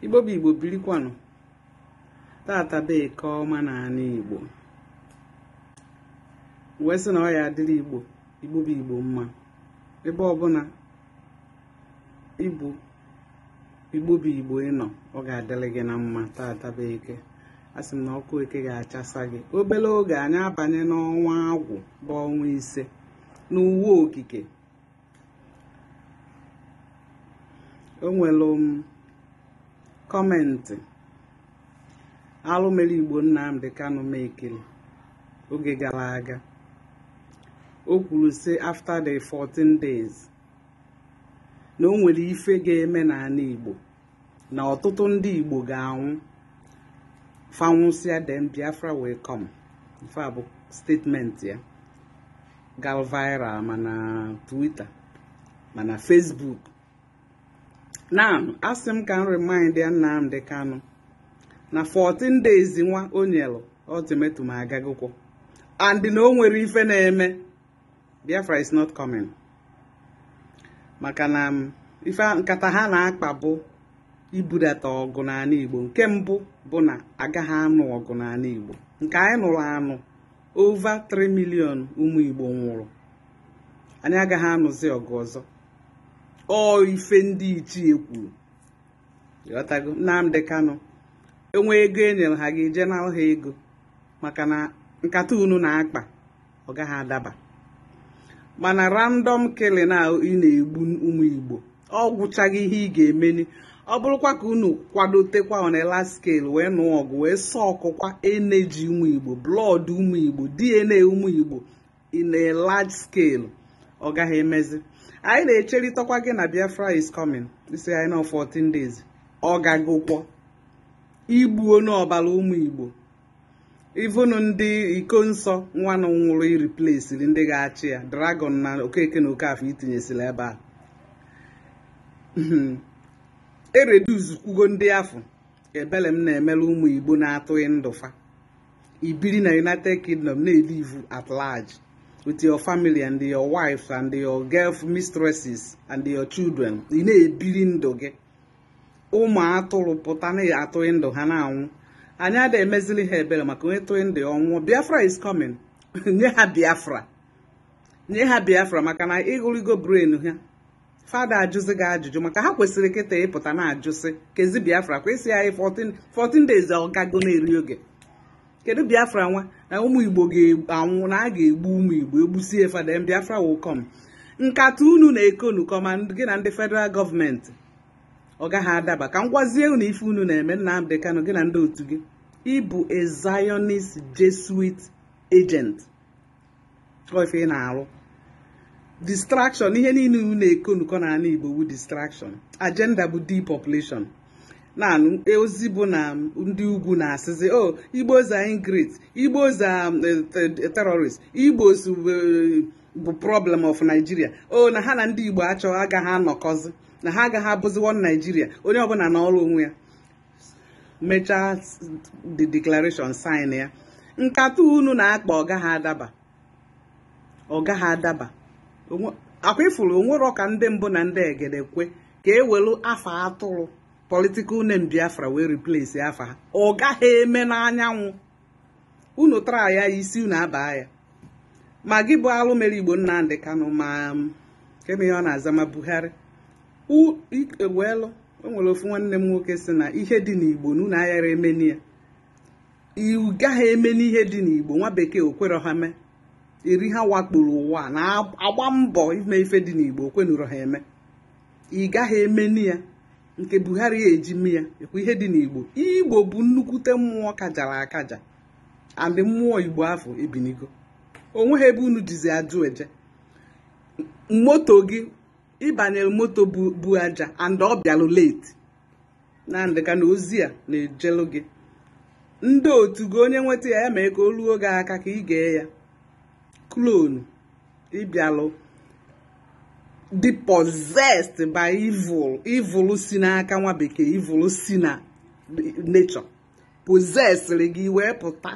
igbo bụ igbo birikwanụ taata bụ eke ọma na anị igbo wee sị na ọ ya-adịrị igbo igbo bụ igbo mma ebe ọbụla ị bụ igbo bụ igbo ị nọ ọ ga-adịrị gị na mma taata bụ eke asị m na ọkụ eke ga-achasa gị obere oge anyị abanye n'ọnwa agwụ bụ ọnwa ise n'uwe okike o nwere m um, kọmentị alụ mere igbo Nnamdi Kanu mekiri oge gara aga o kwuru sị after the 14 days na o nwere ife ga-eme n'anị igbo na ọtụtụ ndị Igbo ga-anwụ fa nwụsịa then Biafra wee come ife a bụ statement ya gara viral ma na Twitter ma na Facebook na asị m ka m remindia Nnamdi Kanu na 14 days nwa o nyelụ ultimatum agagokwọ and na o nwere ife na-eme biafra is not coming maka na um, ife nkata ha na-akpa bụ ibudata ọgụ n'anị igbo nke mbụ bụ na agaghị anụ ọgụ n'anị igbo nke anyị nụrụ anụ over 3 million ụmụ igbo nwụrụ anyị agaghị anụzi ọgụ ọzọ ọ ife ndị ichie kwuru ghọtago Nnamdi Kanu o nwee ego e nyere ha ga-eje na ha ego maka na nkata unu na-akpa ọ gaghị adaba mana random killing a ị na-egbu ụmụ Igbo ọ gwụchaghị ihe ị ga-emeni ọ bụrụkwa ka unu kwadotekwa on a large scale wee nụọ ọgụ wee sọkụkwa energy ụmụ Igbo blood ụmụ Igbo DNA ụmụ Igbo in a large scale ọ gaghị emezi anyị na-echerịtakwa gị na Biafra is coming ị sị anyị na 14 days ọ gagokwo i gbuo ṅụọ ọbara ụmụ Igbo even ndị Ikonso nwanụ nwụrụ i replaceiri ndị ga-achị ya Dragon na Okeke na Okafọ i tinyesịla ebe a ereduz kwugo ndị afọ ebele m na-emere ụmụ igbo na-atụghị ndụ fa i biri na united kingdom na-elive at large with your family and your wife and your girl mistresses and your children ị na-ebiri ndụ gị ụmụ atụrụ pụta na ya atụghị ndụ ha na-anwụ anyị ada emezili ha ebere maka onye tụghị ndụ ọ nwụọ biafra is coming nye ha biafra nye ha biafra maka na ị kụrigo brain ha fa ada ajụzi gị ajụjụ maka ha kwesịrị kịta ịpụta na-ajụsị kezi biafra kwesị anyị 14 days ọgago na-eri oge kedu biafra nwa na ụmụ igbo ga-anwụ na a ga-egbu ụmụ igbo egbusie fada biafra will come nkata unu na-ekonukọ ma gị na ndị federal gọọmenti ọ gaghị adaba ka m gwazie unu ife unu na-eme Nnamdi Kanu gị na ndị otu gị ị bụ a Zionist Jesuit agent ife ị na-arụ distraction ihe niile unu na-ekonukọ n'anị Igbo bụ distraction agenda bụ depopulation na-anụ e, ozi bụ na ndị ugwu na-asịzi o oh, Igbos are ingrate Igbos are eh, terrorist Igbo bụ problem of Nigeria o na ha na ndị Igbo achọ agaghị anọkọzi na ha agaghị abụzi one Nigeria onye ọbụla nọrọ onwe ya mechaa the declaration sign ya nkata unu na-akpa ọ gaghị adaba ọ gaghị adaba ọkwa ị fụrụ o nwerọ ka ndị mbụ na ndị egede kwe ka e welu afa a tụrụ political name Biafra wee replace afa ha ọ gaghị eme n'anyanwụ unu tara ya isi unu abaa ya ma gị bụ alụ mere igbo Nnamdi Kanu ma keme ihe ọ na-aza ma Buhari weelụ o nwere ofu nwanne m nwoke sị na ihe dị n'igbo na unu aghara emeni ya ị gaghị emeni ihe dị n'igbo nwa bekee o kwerọ ha mee eri ha wakporo ụwa na-agba mbọ ime ife dị n'igbo o kwenụrọ ha eme ị gaghị emeni ya nke buhari ya eji mee ya ihe dị n'igbo igbo bụ nnukwute mmụọ kajara akaja and mmụọ igbo afụ ebinigo o nweghị ebe unu jizi ajụ eje moto gị ị banyere moto bu aja and ọ bịalụ late Nnamdi Kanu ozi a na-ejelu gị ndị otu gị onye nweta ya ya mee ka o ruo gị aka ka ị gee ya clone ị bịalụ dị possessed by evil evil si n'aka nwa bekee evil si na nature possessịrị gị i wee pụta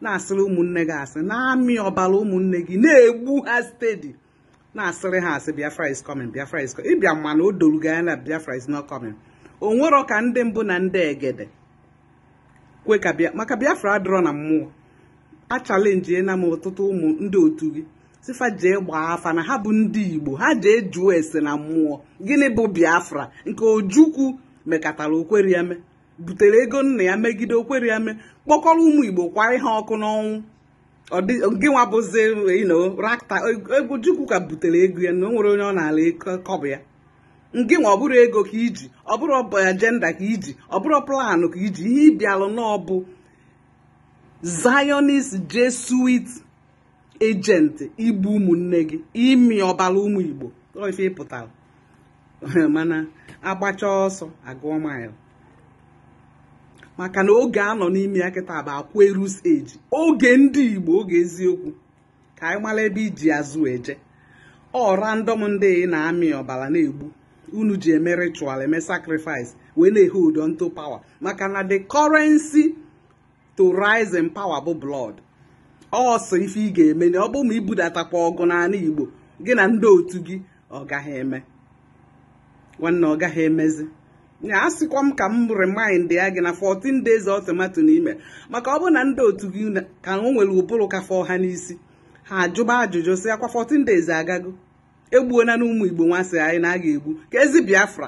na-asịrị ụmụnne gị asị na-amị ọbara ụmụnne gị na-egbu ha steady na-asịrị ha asị Biafra is coming Biafra is coming ịbịa mana o doru gị anya na Biafra is not coming o nwerọ ka ndị mbụ na ndị egede kwe ka bịa maka biafra adịrọ na mmụọ a challenge na m ọtụtụ ụmụ ndị otu gị sị fa jee gbaa afa na ha bụ ndị igbo ha jee jụọ ese na mmụọ gịnị bụ biafra nke ojukwu mekatara o kweri eme butere ego nna ya megide o kweri eme kpọkọrọ ụmụ igbo kwai ha ọkụ n'ọnwụ gị nwa bụzi rakta egwu chukwu ka butere ego ya na o nwere onye ọ na-ala ka ọ bụ ya ngị nwa ọ bụrụ ego ka i ji ọ bụrụ agenda ka i ji ọ bụrụ plan ka i ji ihe ị bịalụ na ọ bụ zionist jesuit agent igbu ụmụnne gị ịmị ọbala ụmụ igbo ife ị pụtara mana a gbachaa ọsọ a gụọ mile maka na oge a nọ n'ime ya kịta bụ aquarius age oge ndị igbo oge eziokwu ka ị mara ebe i ji azụ eje ọ random ndị na-amị ọbala na-egbu unu ji eme ritual eme sacrifice wee na-ehold on to power maka na the currency to rise in power bụ blood ọ sọ ife ị ga-eme na ọ bụ ma i budatakwa ọgụ n'ala Igbo gị na ndị otu gị ọ gaghị eme nwanne ọ gaghị emezi ya asịkwa m ka m remindịa gị na 14 days ultimatum n'ime maka ọ bụ na ndị otu gị ka nwere ụbụrụ ka fọ ha n'isi ha ajụba ajụjụ sị ọkwa 14 days agago egbuona na ụmụ Igbo nwa sị na a ga-egbu ka ezi Biafra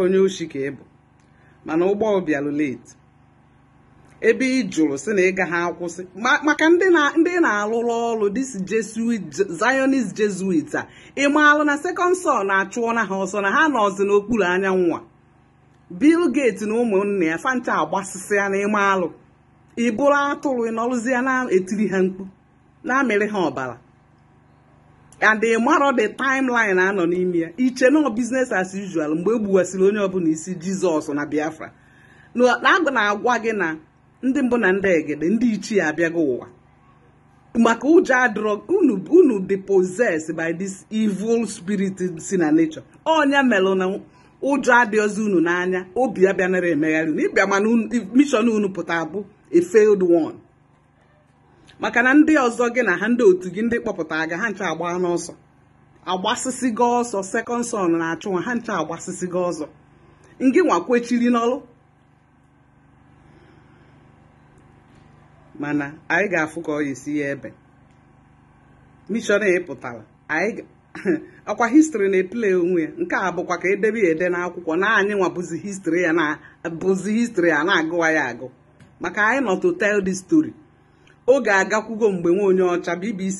onye oshi ka ị bụ mana ụgbọ bịalụ late ebe ị jụrụ si na ị gaghị akwụsị maka ndị ị na-alụrụ ọrụ zionist jesuit ị marọ na second sun na-achụ nwa ha ọsọ na ha nọzi n'okpuru anyanwụ a Bill Gates na ụmụnne ya fa ncha agbasịsịa na ị marọ ị bụrụ atụrụ ị nọrọzie na-etiri ha mkpu na-amịrị ha ọbala and ị marọ the timeline a nọ n'ime ya i che na ọ business as usual mgbe e gbuwasịrị onye ọbụla isi jizọs na biafra na-agwa gị na ndị mbụ na ndị egede ndị ichie abịago ụwa maka unu dị possessed by this evil spirit si na nature onye melụ na ụjọ adịrọzi unu n'anya obi abịanara emegharị unu ịbịa mana mission unu pụta bụ a failed one maka na ndị ọzọ gị na ha ndị otu gị ndị kpọpụta gị ha ncha agbana ọsọ agbasịsịgo ọsọ second sun na-achụ nwa ha ncha agbasịsịgo ọsọ ngị nwa kwechiri n'ọlụ mana anyị ga-afụ ka ọ ga-esi ya ebe mission ị pụtara anyị ọkwa history na-eplay onwe ya nke a bụkwa ka e dee ya ede n'akwụkwọ na anyị nwa bụzi history a na-agụ nwa agụ maka anyị nọ to tell this story oge agakwugo mgbe nwa onye ọcha bbc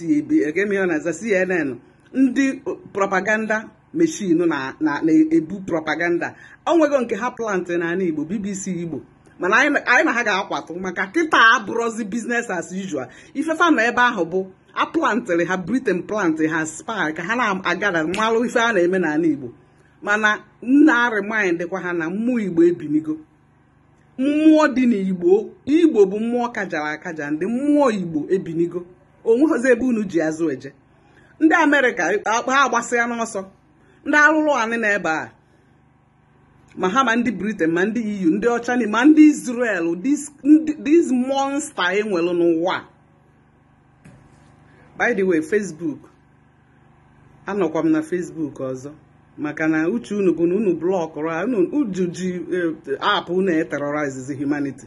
abc cnn ndị propaganda machine na-ebu propaganda o nwego nke ha plantị n'ala igbo bbc igbo mana anyị na ha ga-akwatụ maka kịta abụrọzi business as usual ife fa nọ ebe ahụ bụ a plantịrị ha britain plantị ha spy ka ha na-agara malụ ife a na-eme n'ala igbo mana na-aremindịkwa ha na mmụọ igbo ebinigo mmụọ dị n'igbo igbo bụ mmụọ kajara akaja ndị mmụọ igbo ebinigo onweghịzi ebe unu ji azụ eje ndị america ha agbasịa n'ọsọ ndị arụrụ anị na ebe a ma ha ma ndị britain ma ndị eu ndị ọcha ma ndị israel this monster e nwere n'ụwa by the way facebook anọkwa m na Facebook ọzọ maka na uche unu bụ na unu blockụrụ unu ji eh, app unu eterrorizezi humanity